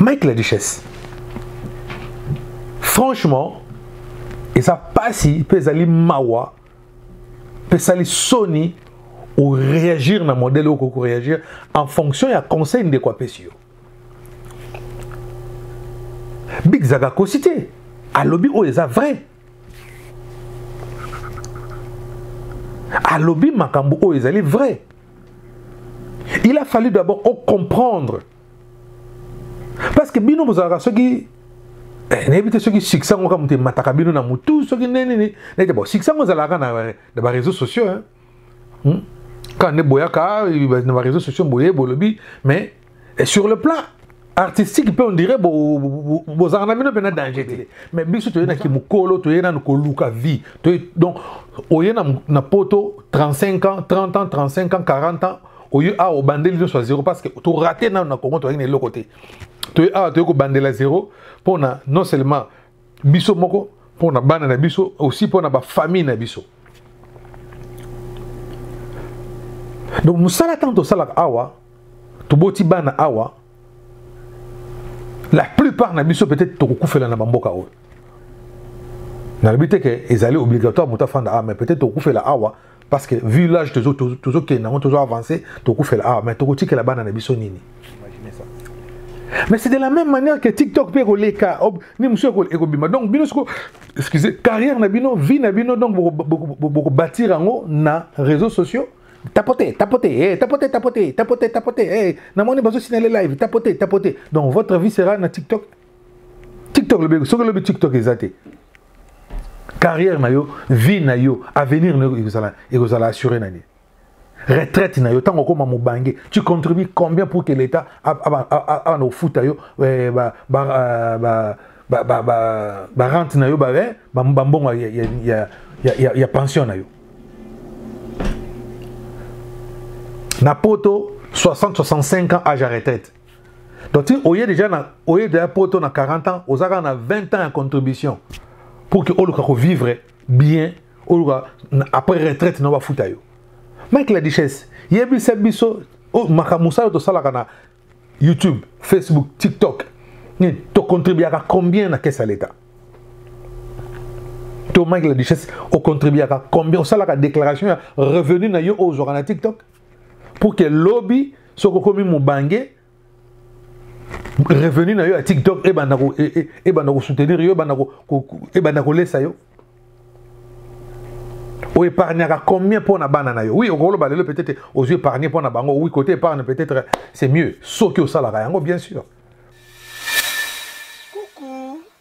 mike la duchesse franchement eza mpasi mpe ezali mawa mpe esali soni oreagir na modele oyo okoki koreagir en fonction ya conseil ndeko apesi yo big zaka akosi te alobi oyo eza vrai alobi makambo oyo ezali vrai il a fallu d'abord ocomprendre parce que bino bozalaka soki eh, nayebi te soki succès yango kaka moto emataka bino na motu soki nini nini nayebi te bon succès yango ezalaka na bareseau sociaux hein? hmm? kaka nde boyaka ah, na bareseau sociaux boye bolobi mais eh, sur le plan artistique mpe ondire bozalaka na bino mpe na danger te mais biso toye na kimokolo toye nanu koluka vie donc oye na poto 35 ans 30 ans 35 ans 40 ans oye awa obandeli nyonso ya zero parce que torate nanu na congo toyaki na eloko te toye awa toye kobandela zero mpo na non seulement biso moko mpo na bana na biso aussi mpo na bafamille na biso donc mosala ntango tosalaka awa toboti bana awa la plupart na biso peut-être tokokufela na bamboka oyo nalobi te ke ezali obligatoire moto afanda awa mais peut-être tokokufela awa parce que vu l'âge tozokende nango tozo avance tokufela awa ah, mais tokotikela bana na biso nini mais c'est de la même manière que tiktok mpe ekoleka ni mosusu ekobima donc bino soko excusez carrière na bino vie na bino donc bokobâtir yango na réseaux sociaux tapote tapote eh, tapote tapote tapote tapote eh, namoni bazosina le live tapote tapote donc votre vie sera na tiktok tiktok lobi soki lobi tiktok eza te carrière na yo vie na yo avenir na yo ekozala ekozala assuré na nini retraite na yo ntango okoma mobange tu contribue combien pour que l'état abana kofuta yo eh, barente na yo eh, bambongo ya pension na yo na poto 60-65 ans age ya retraite donc ti oye déjà na oye déjà poto na 40 ans oza kaka na 20 ans ya contribution pour que oluka kovivre bien oluka après retraite na bafuta yo mike la duchesse yebisa biso oh, makambo mosala tosalaka na youtube facebook tiktok nini tocontribuaka combien na caisse ya l'état to mike la duchesse ocontribuaka combien osalaka déclaration ya revenu na yo oyo ozwaka na tiktok pour que lobi soki okomi mobange revenu na yo ya tiktok ebanda e, e, kosoutenir yo ebanda kolesa yo oépargnaka combien mpo na bana na yo oui okoloba lelo peut-être ozwi épargne mpo na bango oui côté épargne peut-être c'est mieux soki osalaka yango bien sûr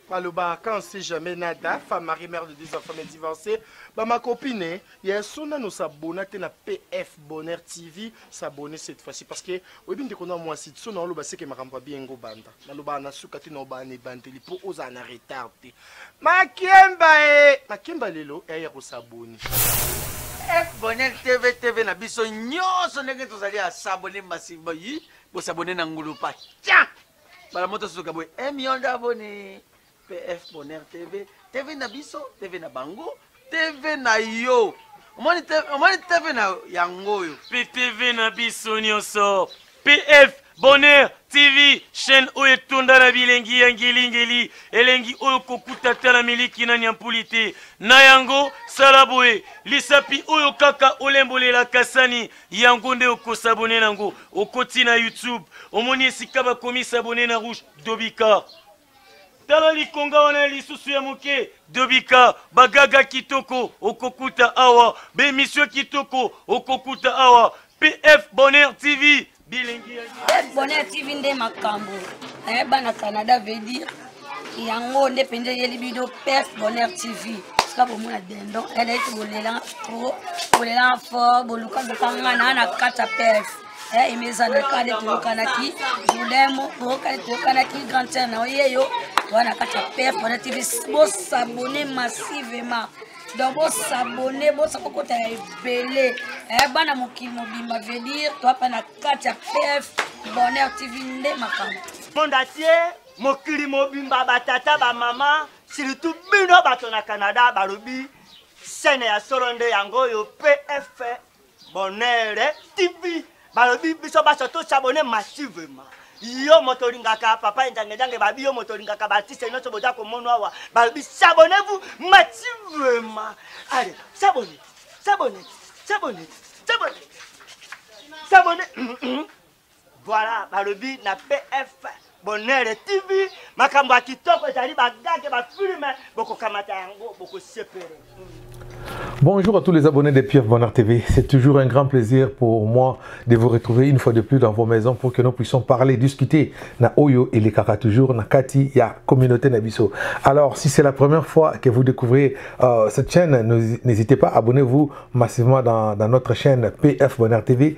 baloba quand on sait jamais nada femme marie mère de deux enfants mais divorcée bama copine ya so nano sabona te na pf bonheur tv sabone cette fois-ci parce que oyebi ndeko na mwasi so na oloba seke makambo ya biengo banda nalobaka na suka te na obaa na ebandeli mpo ozala na retard te makemba e makemba lelo eya kosaboni f bonheur tv tv na biso nyonso ndenge tozali asabone masiba yi bosabone na ngulupa tia bala moto sosoka boye eh, million d'abonné pf bonheur tv tv na biso tv na bango tv na yo omoni tv na yango oyo ptv na biso nyonso pf bonheur tv chaîne oyo etonda na bilengi ya ngelingeli elengi oyo kokuta ata na miliki na nyampuli te na yango sala boye lisapi oyo kaka olembolela kasani yango nde okosabone nango okoti na youtube omoni esika bakomi sabone na rouge dobika tala likonga wana ya lisusu ya moke dobika bagaga kitoko okokuta awa bemisio kitoko okokuta awa pf bonheur tv bilingi bonheur tv nde makambo eh, bana canada veut dire yango nde mpenza eyeli bino perte bonheur tv sika bomona dendo eleki bolelanga trop bolelanga fort boluka luka nga na na kati ya perte eh, emezana kade toyokanaki jodemo bookade toyokanaki grand terre na oyeyo toa na kati ya perte bonheur tv bosabone massivement donc bosabone bosa kokota ya ebele eh, bana mokili mobimba veut dire toapa na kati ya pf bonheur tv nde makambo monde entier mokili mobimba batata bamama surtout bino bato na canada balobi sene ya solo nde yango oyo pf bonere tv balobi biso baso tosabone massivement yo moto olingaka papa enjangejange babi yo moto olingaka baartiste nyonso boza komono awa balobi sabone vous massivement ale sabone sabone sabone sabone sabone Voilà, balobi na PF Bonheur TV, makambo ya kitoko ezali bagage ba filme bokokamata yango bokosepele. Bonjour à tous les abonnés de Pierre Bonheur TV. C'est toujours un grand plaisir pour moi de vous retrouver une fois de plus dans vos maisons pour que nous puissions parler, discuter na Oyo et les Kaka toujours na Kati ya communauté Nabiso. Alors, si c'est la première fois que vous découvrez euh, cette chaîne, n'hésitez pas, abonnez-vous massivement dans, dans notre chaîne PF Bonheur TV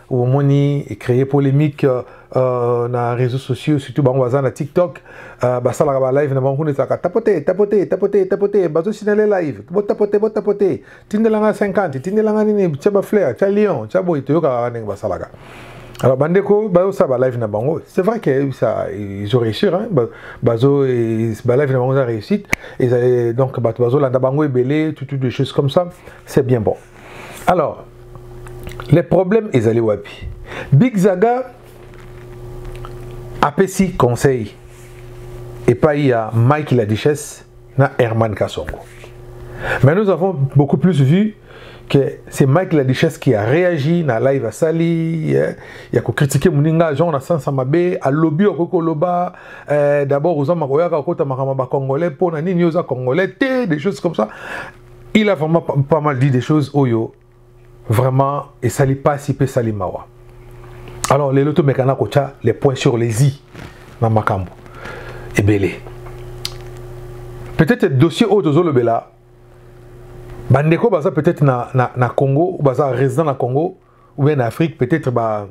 omoni ecree polemique euh, euh, na réseaux sociaux surtout bango baza na tiktok euh, basalaka balive na bango kuna ezalaka tapote tapote tapote tapote bazosinale live botapote botapote tindelanga 50 tindelanga nini tya bafleur tya lion tya boye toyokaka ndenge basalaka alors bandeko bayosa balive na bango c'est vrai que ça ils ont réussi hein? bazo balive na bango eza réussite donc bato bazolanda bango ebele tout, tout des choses comme ça c'est bien bon alors le problème ezali wapi big zaga apesi conseil epai ya mike la duchesse na herman kasongo mais nous avons beaucoup plus vu que c'est Mike la Duchesse qui a réagi na live asali eh, ya ko critiquer muninga genre na sansa mabe a lobby ko ko loba eh, d'abord oza makoyaka ko ta makama ba congolais pona nini oza congolais te des choses comme ça il a vraiment pas mal dit des choses oyo vraiment esali pasi mpe esali mawa alors lelo tomekana kotya les points sur les i na makambo ebele peut-être dossier oyo tozolobela bandeko baza peut-être na, na, na congo baza résident na congo ou bien na afrique peut-être ba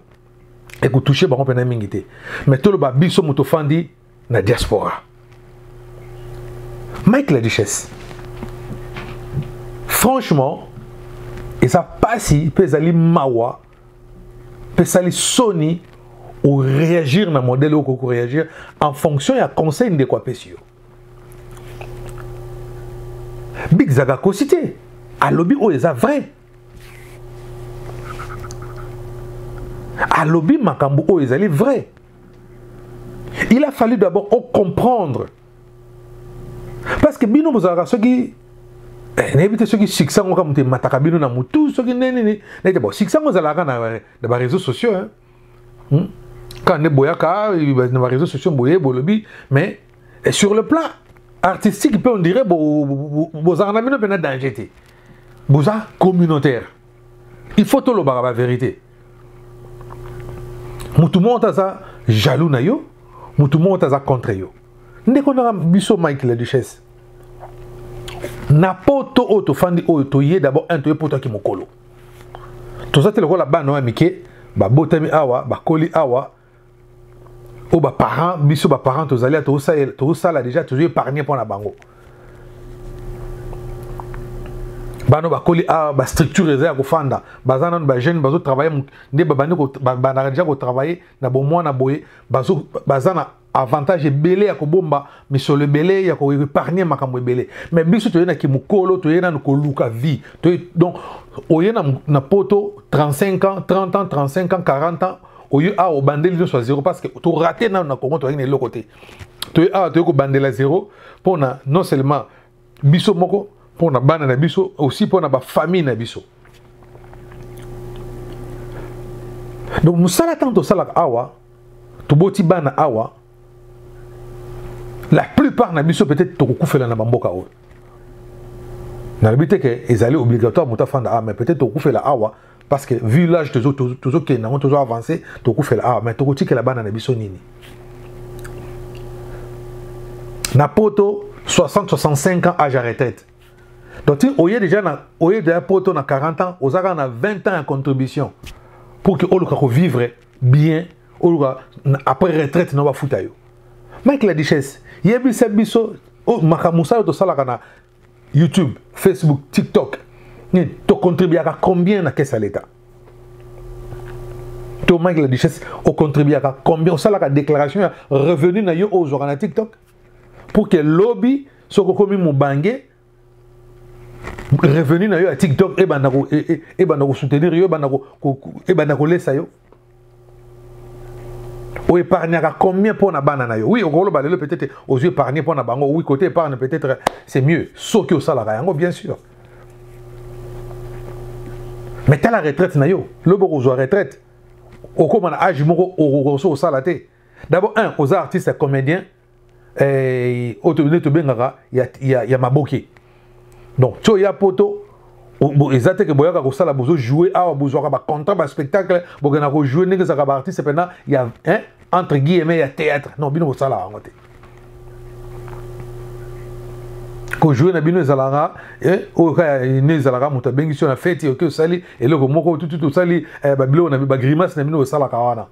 ekotouche bango mpena mingi te mais toloba biso moto ofandi na diaspora mike la duchesse franchement eza mpasi mpe ezali mawa mpe esali soni oréagir na modèle oyo okoki koréagir en fonction ya conseil ndeko apesi yo big zaka akosi te alobi oyo eza vrai alobi makambo oyo ezali vrai il a fallu d'abord ocomprendre parce que bino bozalaka soki eh, nayebi te soki succès yango kaka moto emataka bino na motu soki nde nini nayete bon succès yango ezalaka na bareseau sociaux hein? hmm? kaka nde boyaka na bareseau sociaux boye bolobi mais eh, sur le plan artistique mpe on dirait bozalaka na bino mpe na danger te boza communautaire il faut tolobaka baverité motu moko te aza jaloux na yo motu moko te aza contre yo ndeko naka biso mike la duchesse na poto oyo tofandi oyo toye d'abord un toye poto yaki mokolo toza te lokola bana oyo ya mike babotami awa bakoli awa oyo baparent biso baparent tozali tosala deja tozwi épargne mpo na bango bano bakoli awa ah, bastructure eza ya kofanda baza nano bajeune bazotravaille nde babandi bandaka deja kotravaille na bomwana boye baza na avantage ebele ya kobomba misolo ebele ya koepargne makambo ebele mais biso toye na kimokolo toye nano koluka vie donc oye na poto 35 ans 30 ans 35 ans 40 ans oyo awa ah, obandeli nyonso ya zero parce que torate nano na congo toyaki na eloko te toye awa ah, toyei kobandela zero mpo na non seulement biso moko mpo na bana na biso aussi mpo na bafamille na biso donc mosala ntango tosalaka awa toboti bana awa la plupart na biso peut-être tokokufela na bamboka oyo nalobi te ke ezali obligatoire moto afanda awa mais peut-être tokufela awa parce que vu l'âge tozokende nango tozo avance tokufela awa ah, mais tokotikela bana na biso nini na poto 60-65 ans âge à retraite donc ti oye déjà na oye déjà poto na 40 ans oza kaka na 20 ans ya contribution pour que oluka kovivre bien oluka après retraite na bafuta yo mike la duchesse yebisa biso oh, makambo mosala tosalaka na youtube facebook tiktok nini tocontribuaka combien na kese ya leta to mike la duchesse ocontribuaka combien osalaka déclaration ya revenu na yo oyo ozwaka na tiktok pour ke lobi soki okomi mobange revenu na yo ya tiktok ebanda kosoutenir yo ebanda kolesa yo o épargnaka combien mpo na bana na yo oui okoloba lelo peut-être ozwi épargne mpo na bango oui côté épargne peut-être c'est mieux soki osalaka yango bien sûr mais tala retraite na yo lobi okozwa retraite okóma na age moko okokoso osala te d'abord un oza artiste comédien eh, oyo tobende tobengaka ya, ya, ya maboke donc ti oya poto eza te ke boyaka kosala bozo joue awa bozwaka bacontra baspectacle bokenda kojoue ndenge ezalaka baartiste mpena ya hein, entre guillemets ya théâtre non bino bosala yango te kojoue na bino ezalaka eh, oyo ka ne ezalaka moto abengisi yo na feti oke osali eloko moko tututu osali eh, babiloko na bagrimace na bino osalaka wana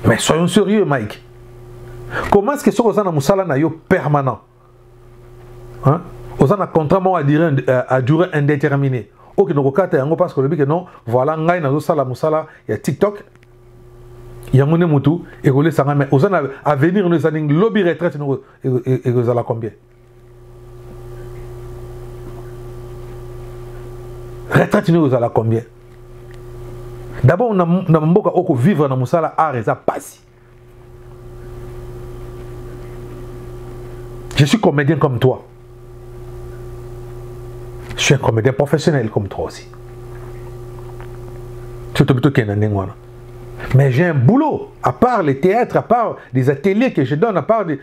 mais soyons sérieux mike comment est ce que soki oza na mosala na yo permanent hein? oza na contrat moko euh, à durée indéterminée okende kokata yango parce que olobi ke non voilà ngai nazosala mosala ya tiktok yango nde motu ekolesa ngai mais oza na avenir no eza ndenge lobi retraite noko ekozala combien retraite nini kozala combien d'abord na, na mboka oyo kovivre na mosala art eza mpasi je suis comédien comme toi je suis un comédien professionnel comme toi aussi surtout plutôt qu'il y a un mais j'ai un boulot à part les théâtres à part les ateliers que je donne à part des,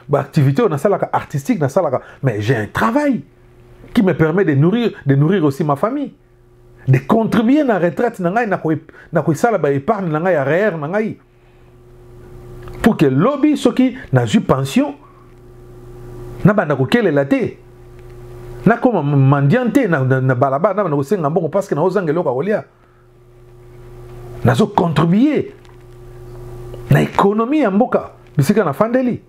ba activité oyo nasalaka artistique nasalaka mais j'ai un travail qui me permet de nourrir, de nourrir aussi ma famille de contribuer na retraite na ngai na koesala baépargne na ngai ya rr na ngai pour que lobi soki nazwi pension nabanda kokelela te nakoma mandian te na balabala nabanda kosenga mbongo parceke naozanga eloko ya kolia nazo contribuer na ekonomi ya mboka bisika nafandeli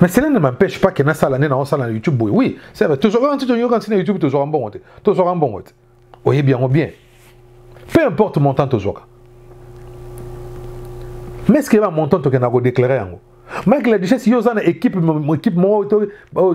mais cela ne m'empêche pas que nasala nde naosala na youtube boye oui c'est vrai tozwaka nti toyoka ntina youtube tozwaka mbongo te tozwaka mbongo te oyebi yango bien peu importe montant tozwaka mais ce que ba montant tokenda kodéclare yango mike la duchesse yo oza na équipe équipe moko to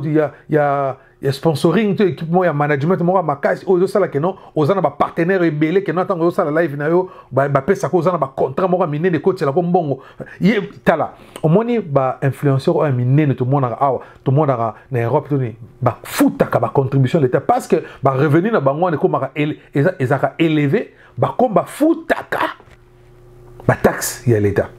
ya ya ya sponsoring to équipe moko ya management moko ya makasi oyo ezosala keno oza na bapartenaire ebele keno na ntango ozosala live na yo bapesaka oza na bacontrat moko ya minene ekotielako mbongo ye tala omoni bainfluenceur oyo ya minene tomonaka awa tomonaka na europe toni bafutaka bacontribution leta parce que barevenu na bango wana ekomaka ezaka éleve bakomi bafutaka ba taxe ya leta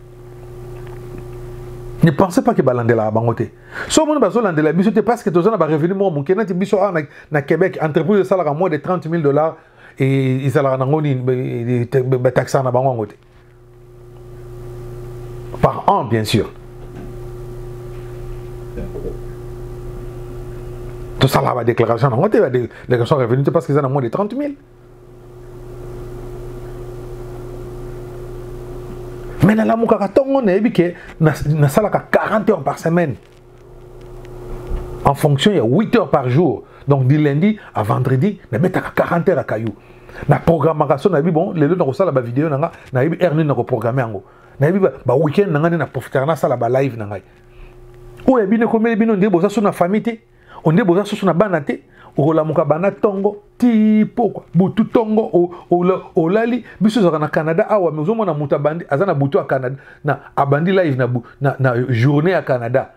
ne pensez pas que balandelaka bango te so omoni bazolandela biso te parce que toza na barevenu moko moke neti biso awa na québec entreprise esalaka moins de 30 000 dollars ezalaka nango nini bataxaka na bango yango te par an bien sûr tosalaka badéclaration nango te badéclaration revenu te parce que eza na moins de 30 000 mais nalamukaka ntongo nayebi ke nasalaka 40 heures par semaine en fonction ya 8 heures par jour donc du lundi à vendredi nabetaka 40 heures ya kayu na programmaka so nayebi bon lelo nakosala bavideo na nga nayebi heure nini nakoprogramme yango nayebi baweekend na ngai nde na profitaka nasala balive na ngai oyo ya bino ekomeli bino nde boza so na famille te onde boza susu na bana te okolamuka bana tongo ti pokwa butu tongo olali biso ezalaka na canada awa me ozomona moto abandi aza na butu ya canada na abandi live na, na, na journée ya canada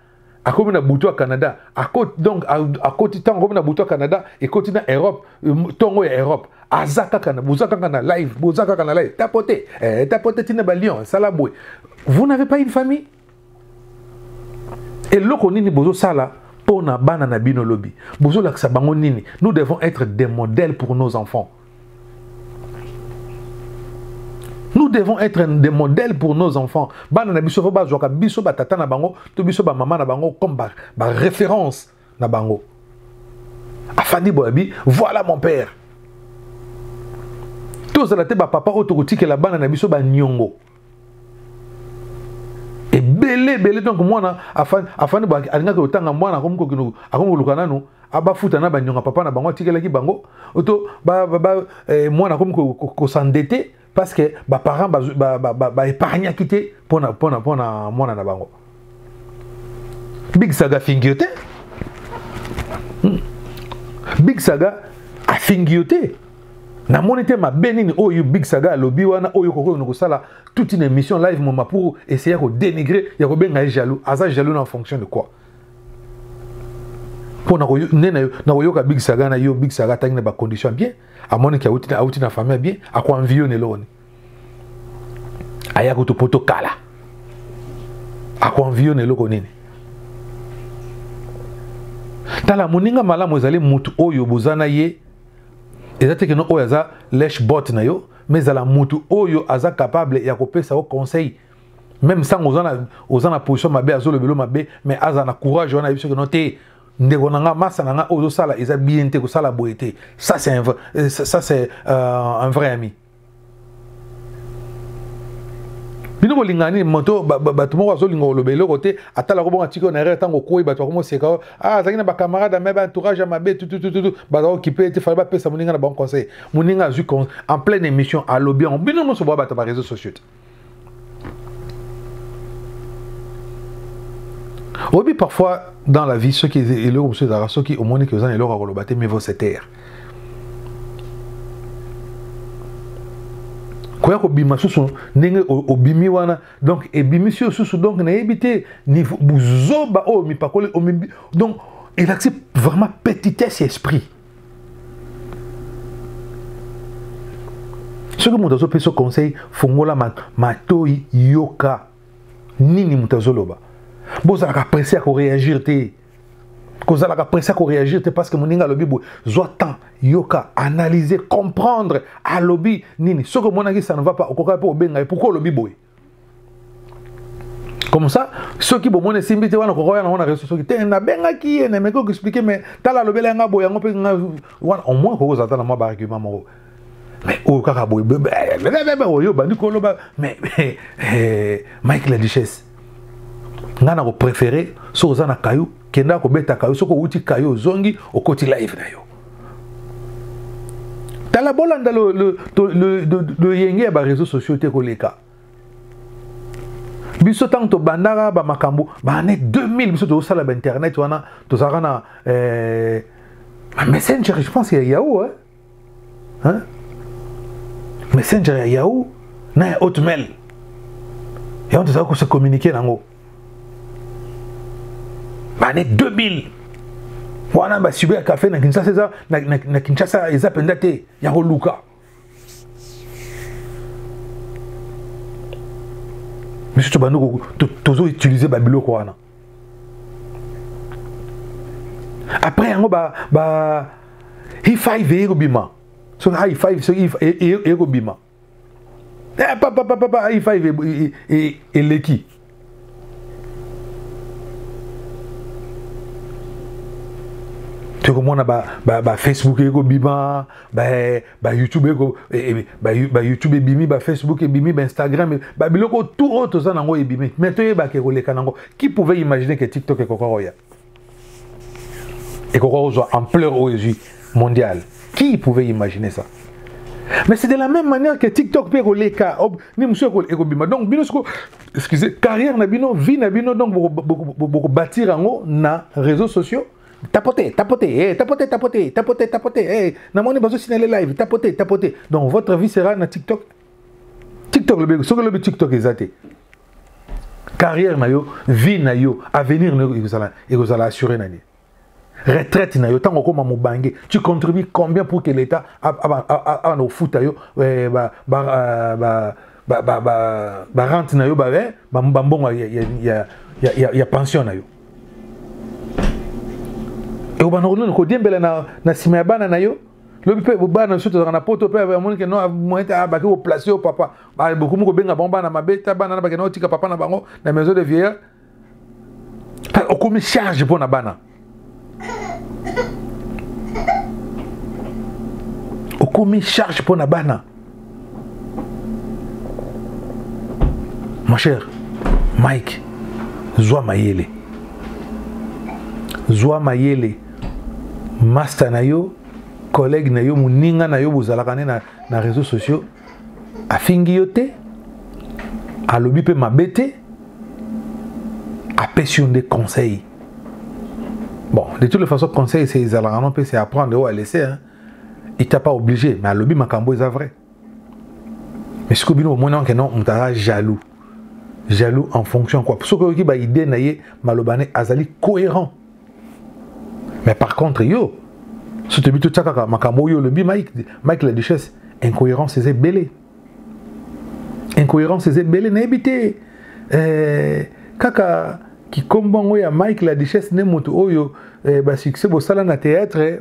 akomi na butu ya canada akoti donc akoti ntango akomi na butu ya canada ekoti na europe ntongo ya europe aza kaka na boza kaka na live boza kaka na live tapote eh, tapote ntina balion sala boye vous n'avez pas une famille eloko nini bozosala mpo na bana na bino lobi bozolakisa bango nini nous devons être des modèles pour nos enfants nous devons être des modèles pour nos enfants bana na biso fo bazwaka biso batata na bango to biso bamama na bango comme baréférence ba na bango afandi boye abi voilà mon père tozala te bapapa oyo tokotikela bana na biso baniongo ebele ebele donc mwana afandi boye alingaki kotanga mwana akomi kokino akomi koluka nanu abafuta na banionga papa na bango atikelaki bango to eh, mwana akomi kosandete parce que ba parents ba ba ba, ba, ba épargner quitté pour na pour na pour na mwana na bango Big Saga fingiote hmm. Big Saga a fingiote na moni te mabe nini oyo Big Saga alobi wana oyo kokoyo kosala toute une émission live moma pour essayer ko dénigrer ya ko benga jaloux aza jaloux en fonction de quoi mpo nde nakoyoka big saga na yo big saga atangi na bacondition bien amoni ke auti, auti na famille bien akuanviyo na eloko nini aya kutu poto kala akuanviyo na eloko nini tala moninga malamu ezali motu oyo boza na ye eza te keno oyo aza lesh bot na yo mais ezala motu oyo aza capable ya kopesa yo conseil meme ntango oza na position mabe azolobelo mabe mais azala na courage wana ayebi soki no te ndeko na nga masa na nga oyo ozosala eza bien te kosala boye te ça c'est un, euh, ça c'est euh, un vrai ami bino kolingana nini moto bato moko azolinga koloba eloko te atala kobonga atiki oyo na erreur ntango okwei bato bakoma oseka yo a ah, azalaki na bacamarade ame baentourage ya mabe tutututu baza okipe ete fale bapesa moninga na bango conseil moninga azwi en pleine émission alobi yango bino nyonso boya bato ya bareseau sociaux te oyebi parfois dans la vie soki eloko mosusu ezalaka soki omoni ke oza na eloko ya koloba te mivo se taire koya kobima susu ndenge obimi wana donc ebimisi yo susu donc nayebi te buzoba oyo mipakoli donc elakisi vraiment petitesse ya esprit soki moto azopesa conseil fungola matoi yoka nini moto azoloba bozalaka presse ya koreagir te kozalaka presse ya koreagir te parce que moninga alobi boye zwa temps yoka analyse comprendre alobi nini soki omonaki ça ne va pas okokaki mpe obenga ye pourkui olobi boye comme ça soki bomoni esimbi te wana kokoya nango na reseau soki te nabengaki ye na meki okoexplike mais tala alobela yanga boye yango mpe nga wana au moins kokozala ata na mwa baargument moko mais oyo kaka boye oyo obandi koloba mais eh, mike la duchesse ngai na kopréféré soki oza na kayo kenda kobeta kayo soki owuti kayo ozongi okoti live na yo tala bolanda loyenge ya bareseau sociaux te koleka biso ntango tobandaka bamakambo baane 2000 biso tozosala bainternet wana tozalaka na eh, messenger je pense ya yahoo eh? Hein? messenger ya yahoo na ya hotmail yango tozalaki kose communiquer nango bane 2000 wana basibo ya kafe na kinshasa eza na, na, na kinshasa eza mpenza te ya koluka biso tobandi tozoutilize babiloko wana après yango ba, ba hi5 eye kobima soki hi5 soki eye kobima eh, papa papa papa il faut eleki tokomona ba, ba, ba facebook ekobima ba, ba youtube eko, e, e, ba, ba youtube ebimi ba facebook ebimi ba instagram e, ba biloko tout oyo toza nango ebimi mais toyebaka ekoleka nango qui pouvait imaginer que tiktok ekoka koya ekoka kozwa ampleur oyo ezwi mondial qui pouvait imaginer ça mais c'est de la même manière que tiktok mpe ekoleka oh, ni mosusu ekobima donc bino siko excuse carrière na bino vie na bino donc bokobâtir yango na réseaux sociaux tapote tapote hey, eh, tapote tapote tapote tapote hey, eh, namoni bazosina le live tapote tapote donc votre vie sera na tiktok tiktok lobi soki lobi tiktok eza te carrière na yo vie na yo avenir na yo ekozala ekozala assuré na nini retraite na yo ntango okoma mobange tu contribue combien pour que l'état abana kofuta yo eh, barente eh, na yo bambongo eh, ya pension na yo ekobana kodiembela na nsima ya bana na yo lobi mpe bana biso tozalaka na poto mpe amoni ke moyete abaki koplace yo papa bokomi kobenga bango bana mabe ta bana na bakenda kotika papa na bango na maison de vieillard okomi charge mpo na bana okomi charge mpo na bana mon cher mike zwa mayele zwa mayele masta na yo collègue na yo moninga na yo bozalaka nde na, na réseau sociaux afingi yo te alobi mpe mabe te apesi yo nde conseil bon de toutes les façons conseil se ezalaka no mpe se apprendre oyo alese hein? il t'a pas obligé mais alobi makambo eza vrai mais sikoyo bino bomoni anke non moto aza jaloux jaloux en fonction quoi soki oyoki baidée na ye maloba ne azali cohérent mais par contre yo so toyebi totya kaka makambo oyo olobi mike, mike la duchesse incohérence eza ebele incohérence eza ebele nayebi te eh, kaka kikombo yango ya mike la duchesse nde moto oyo eh, basuccès bosala na théâtre eh,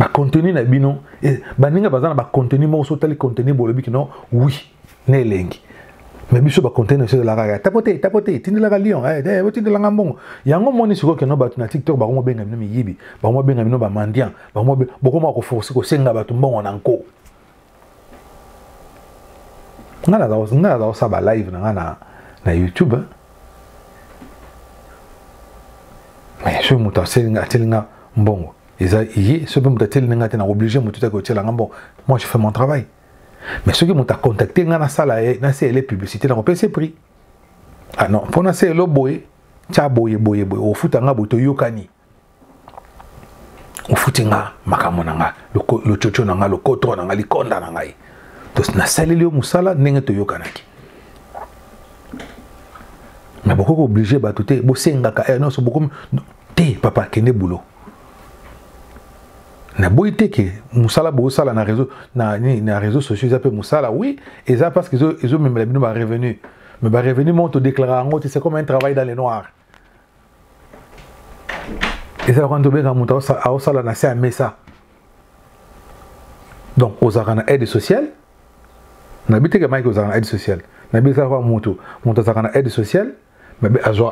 bacontenu na bino eh, baninga baza na bacontenu moko soki otali contenu bolobi kino wi na elengi me biso bacontenu biso ezalaka kaka tapo te tapo te tindelaka lion eh, eh, otindelanga mbongo yango moni sikoyo keno bato na tiktok bango mobenga bino miyibi bango mobenga bino bamandian bokoma koforce kosenga bato mbongo na nko nga naza kosala ba live na nga na, na youtube hein? mais soki moto ateli nga mbongo eza ye soki mpe moto ateli nga te na oblige moto te kotyela nga mbongo moi je fais mon travail mais soki moto acontacte nga nasala ye naseyele publicité nakopesa ye prix ah non mpo naseyelo boye tya boye boye boye ofuta nga boye toyokani ofuti nga makambo na nga lococo na nga lokotro na nga likonda na ngai nasaleli yo mosala ndenge toyokanaki me bokoki kooblige bato te bosengaka eh, nyonso bokomi te papa kende boulot naboyi te ke mosala bosala na réseau na nini na réseau sociaux eza mpe mosala oui eza parce que ezomemela bino barevenu mais barevenu moko todéclara yango te c'est comme un travail dans le noir eza lokola tobenga moto aosala na se ya mesa donc ozalaka na aide sociale nabi teke mike ozalaka na aide sociale nabi eza lokola moto moto azalaka na aide sociale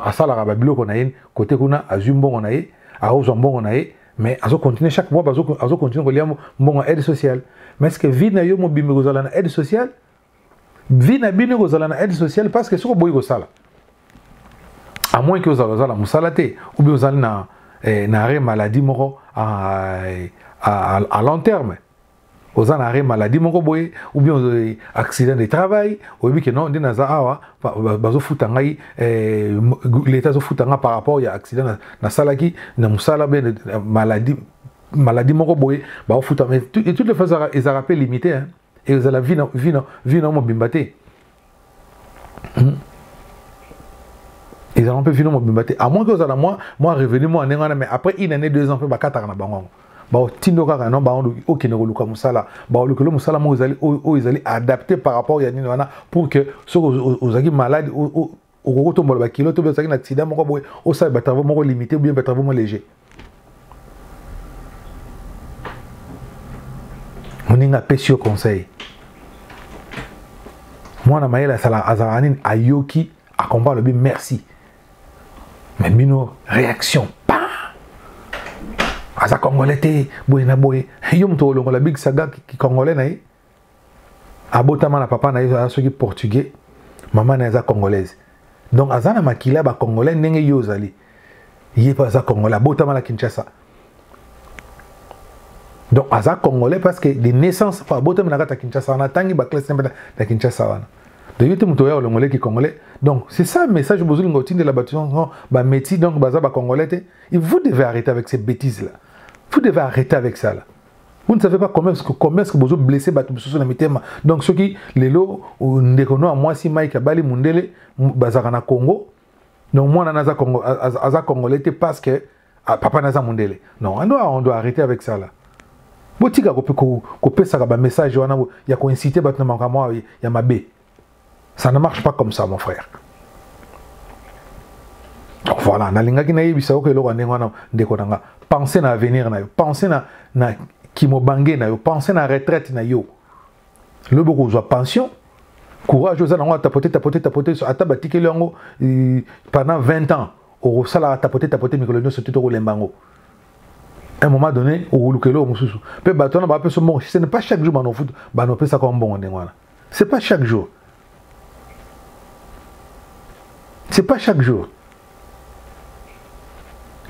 asalaka babiloko na ye kote kuna azwi mbongo na ye akozwa mbongo na ye mais azocontinue chaque mois azocontinue kolia mbongo ya aide sociale mais ce que vie na yo mobimba ekozala na aide sociale vie na bino ekozala na aide sociale parce que soki oboyi kosala à moins que ozala ozala mosala te ou bien ozali na eh, na arrêt maladie moko à, à, à long terme oza na arrêt maladie moko boye ou bien eh, accident de travail oyebi ke non nde naza awa bazofuta ngai eh, leta azofuta ngai par rapport ya accident nasalaki na mosala be maladie maladie moko boye baofuta mais toutes les fois ezalaka mpe limité hein? ekozala vi na mobimba te hmm? ezala mpe vino mobimba te amoi ke ozala mwa mwa revenu mwa ndenge wana mais après une année deux ans mpe bakataka na bango yango baotindo kaka no bango okende koluka mosala baolukelo mosala moko ezali oyo ezali adapté par rapport ya nini wana pour que soki ozalaki maladi okoki kotombola bakilo to ozalaki na accident moko boye osala batravau moko limité bien batravau moko léger moninga apesi yo conseil mwana mayele azalaka nini ayoki akomba alobi merci me bino réaction pa aza congolais te boye na boye yo moto olongola big saga kicongolais na ye abotama na papa na ye aza soki portugais mama na ye aza congolaise donc aza na makila ya bacongolais ndenge yo ozali ye mpe aza congolais abotama na kinshasa donc aza congolais parce que de naissance mpo abotami na kati ya kinshasa wana atangi baclasse na mpe na kinshasa wana donc yo te moto oya olongoleki congolais donc c'est ça message bozolinga otindela bato yango bameti donc baza bacongolais te vous devez arrêter avec ces bêtises là vous devez arrêter avec ça là Vous ne savez pas comment est-ce que, comment est-ce que vous blessez bato mosusu na mitema. Donc soki lelo euh, ndeko no mwasi Mike abali mundele bazaka na Congo. Donc mwana naza Congo aza congolais te parce que ah, papa naza mundele. Non, on doit on doit arrêter avec ça là. Botika ko ko pesa ba message wana ya ko inciter bato na makambo ya mabe. Ça ne marche pas comme ça, mon frère. Donc voilà, nalingaki na yebisa yo eloko ndenge wana ndeko na nga. Pensez na avenir na yo, pensez na na kimobange na yo, pensez na retraite na yo. Lobo kozwa pension, courage oza nango tapoter tapoter tapoter ata batikeli yango euh, pendant 20 ans okosala tapoter tapoter mikolo nyonso te tokolemba yango un moment donné okoluka eloko mosusu mpe bato wana bapesa mbongo ce n'est pas chaque jour banopesa kaka mbongo ndenge wana c'est pas chaque jour c'est pas chaque jour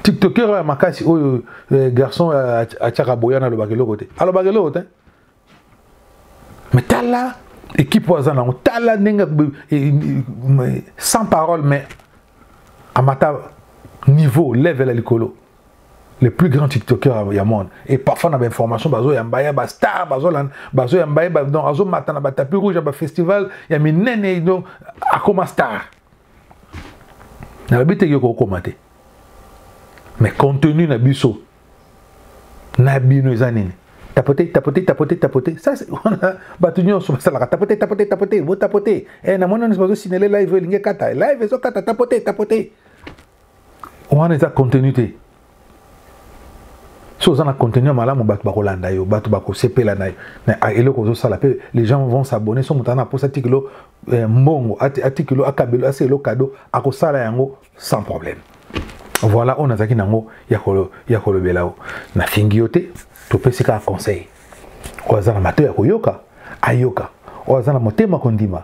tiktoker oyo ya makasi oyo eh, garçon eh, atiaka boyana alobaka eloko te alobaka eloko te me tala ekipe oyo aza nango tala ndenge eh, sans parole mais amata niveau level ya likolo le plus grand tiktoker ya monde et parfois na bainformation bazoyamba ye bastar bazoyamba ye donc azomata na batapi rouge ya bafestival ya minene donc akoma star nalobi te yo kokoma te mais contenu na biso na bino eza nini tapote tapote tapote tapote ça wana bato nyonso basalaka tapote tapote tapote botapote eh, namoni nyonso bazosinele live elingi ekata live ezokata tapote tapote wana eza contenu te soki oza na contenu ya malamu bato bakolanda yo bato bakosepela na, na eloko ozosala mpe les gens vont s'abonner so moto ana aposa atikilo eh, mbongo atikilo akabelo ase elo kado akosala yango sans problème voilà oyo nazalaki nango ya kolobela yo nafingi yo te topesi kaka conseil oyo aza na mato ya koyoka ayoka oyo aza na motema kondima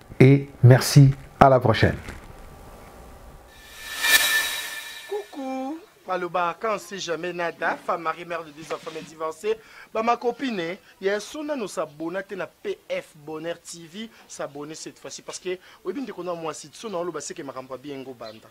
et merci à la prochaine coucou maloba quand si jamais nada femme marie mère de deux enfants mais divorcée ba ma copine ya sona no s'abonner te na PF Bonheur TV s'abonner cette fois-ci parce que oyebi ndeko na mwasi sona oloba seke makambo bien ngo banda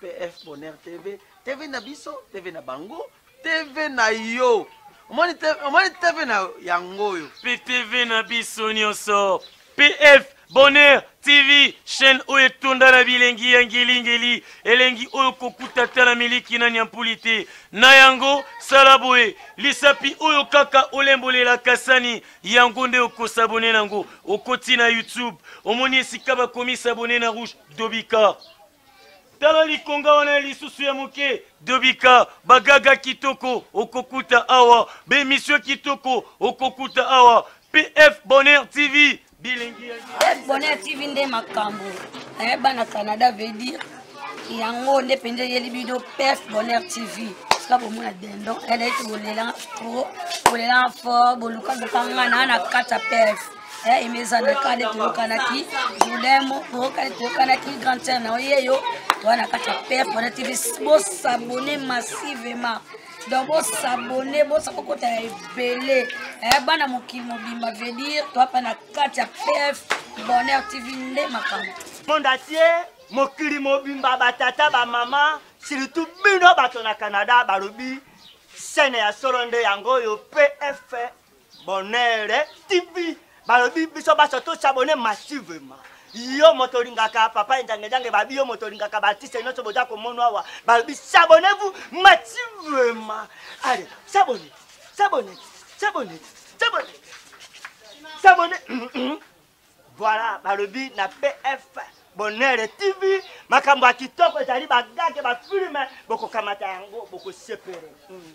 PF Bonheur TV, TV na biso, TV na bango, TV na yo. Omoni TV, omoni TV na yango oyo. PTV na biso nyonso. PF Bonheur TV chaîne oyo etonda na bilengi ya ngelingeli elengi oyo kokuta ata na miliki na nyampuli te na yango sala boye lisapi oyo kaka olembolela kasani yango nde okosabone na yango okoti na youtube omoni esika bakomi sabone na rouge dobika tala likonga wana ya lisusu ya moke dobika bagaga kitoko okokuta awa bemisio kitoko okokuta awa pf bonheur tv bilingi pf bonheur tv nde makambo eh, bana canada veut dire yango nde mpenza eyeli bino pf bonheur tv sika bomona dendon eleki bolelanga tro bolelanga fort bolukaluka nga naa na kati ya pf Eh, imeza na kale toyokanaki julemo oyokale toyokanaki grand sœur na oyeyo toa na kati ya père pona tv bosabone massivement donc bosabone bosakokota ya ebele eh, bana mokili mobimba veut dire toa mpa na kati ya pf bonheur tv nde makambo monde atie mokili mobimba batata bamama surtout bino bato na canada balobi sene ya solo nde yango oyo pf bonere tv balobi biso baso tosabone massivement yo moto olingaka papa enjangejange babi yo moto olingaka baartiste nyonso boza komono awa balobi sabone vous massivement ale sabone sabone sabone sabone sabone voilà balobi na pf bonere tv makambo ya kitoko ezali bagage bafilme bokokamata yango bokosepele mm.